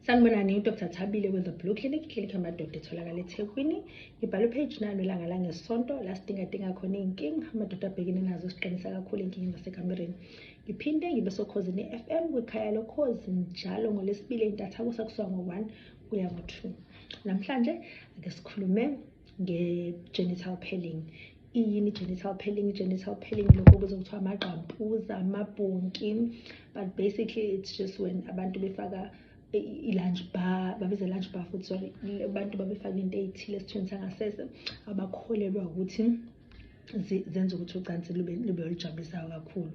sanibonani udr thabile kwenza blue clinic clinic yamadoda etholakala ethekwini ngibhala upage nalo ilanga langesonto la sidingadinga khona iy'nkinga amadoda abhekene nazo siqinisa kakhulu ey'nkingeni zasekamereni ngiphinde ngibe sokhozini i-f m kwikhaya lokhozi njalo ngolesibili entathakusa kusuka ngo-one kuya ngo-two namhlanje ake sikhulume nge-genital pelling iyini genital pelling genital pelling lokho kuze kuthiwa amagqampuza amabhonki but basically it's just when abantu befaka i-lunch bar babiza lunch bar futhi sorry abantu babefaka into ey'thile esithweni sangasese abakholelwa ukuthi zenza ukuthi ucansi lube lube olujabulisayo kakhulu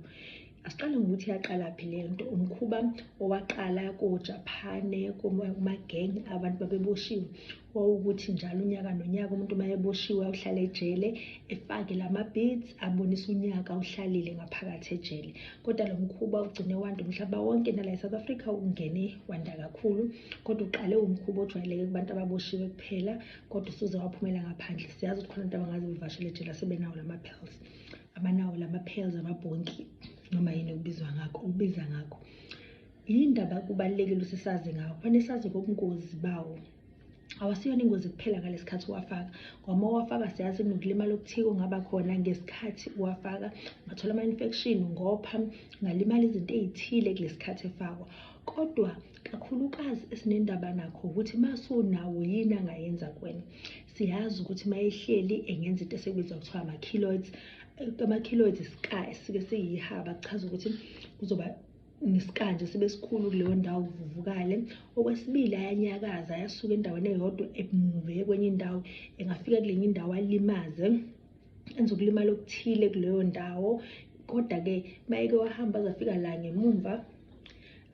asiqale ngokuthi yaqala phi le nto umkhuba owaqala kojapane kumagenge abantu babeboshiwe wawukuthi njalo unyaka nonyaka umuntu uma eboshiwe awuhlale ejele efake la ma-beats abonise unyaka awuhlalile ngaphakathi ejele kodwa lo mkhuba ugcine wanda umhlaba wonke nala e-south africa ungene wanda kakhulu kodwa uqale umkhuba ojwayeleke kubantu ababoshiwe kuphela kodwa usuze waphumela ngaphandle siyazi ukuthi khona abantu abangazi bevashele ejela sebenawo lama-pills abanawo lama-pills amabhonki noma yini okubizwa ngakho ukubiza ngakho yindaba kubalulekile ukuthi sazi ngawo kufanele sazi ngobungozi bawo awasiyona ingozi kuphela ngalesi khathi uwafaka ngoba uwafaka siyazi kunokulimala okuthike ongaba khona ngesikhathi uwafaka ungathola ama-infection ngopha ungalimala izinto ey'thile kulesi khathi efakwa kodwa kakhulukazi esinendaba nakho ukuthi uma sunawo yini angayenza kuwena siyazi ukuthi uma ehleli engenza into esekubizwa kuthiwa ama-kiloids ama-kiloids iska esike siyihaba kuchaza ukuthi kuzoba nesikanje sibe sikhulu kuleyo ndawo kuvuvukale okwesibili ayanyakaza ayasuka endaweni eyodwa emuve kwenye indawo engafika kulenye indawo alimaze enza ukulimala okuthile kuleyo ndawo kodwa-ke mayeke wahamba azafika la ngemumva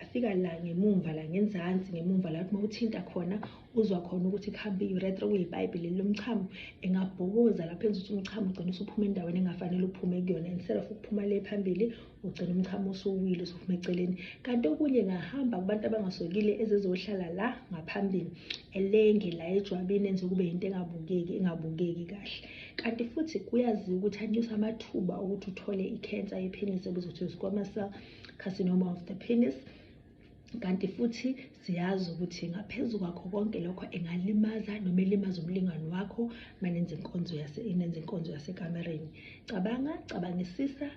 afika la ngemumva la ngenzansi ngemumva la uma uthinta khona uzwa khona ukuthi kuhambe i-uretra kuyipayipi leli lomchamo engabhokoza lapho enza ukuthi umchamo ugcine usuphuma endaweni engafanele uphume kuyona instead of ukuphuma le phambili ugcina umchamo usuwile usuphuma eceleni kanti okunye ngahamba kubantu abangasokile ezizohlala la ngaphambili elenge la ejwabini enze kube yinto engabukeki engabukeki kahle kanti futhi kuyaziwa ukuthi anyusa amathuba okuthi uthole ikhensa yepenis ebizwa ukuthi squamous cell carcinoma of the penis kanti futhi siyazi ukuthi ngaphezu kwakho konke lokho engalimaza noma elimaza umlingani wakho manenza inkonzo yase inenza inkonzo yasekamereni cabanga cabangisisa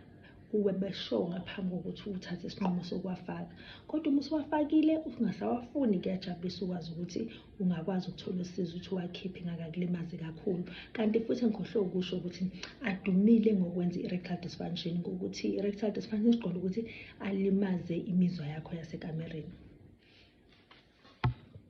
kuwe besho ngaphambi kokuthi uthathe isinqumo sokuwafaka kodwa uma usuwafakile ungasawafuni kuyajabulisa ukwazi ukuthi ungakwazi ukuthola usizo ukuthi uwakhiphe ngakakulimazi kakhulu kanti futhi ngikhohlwe ukusho ukuthi adumile ngokwenza i-rectal dysfunction ngokuthi i-rectal dysfunction siqonda ukuthi alimaze imizwa yakho yasekamereni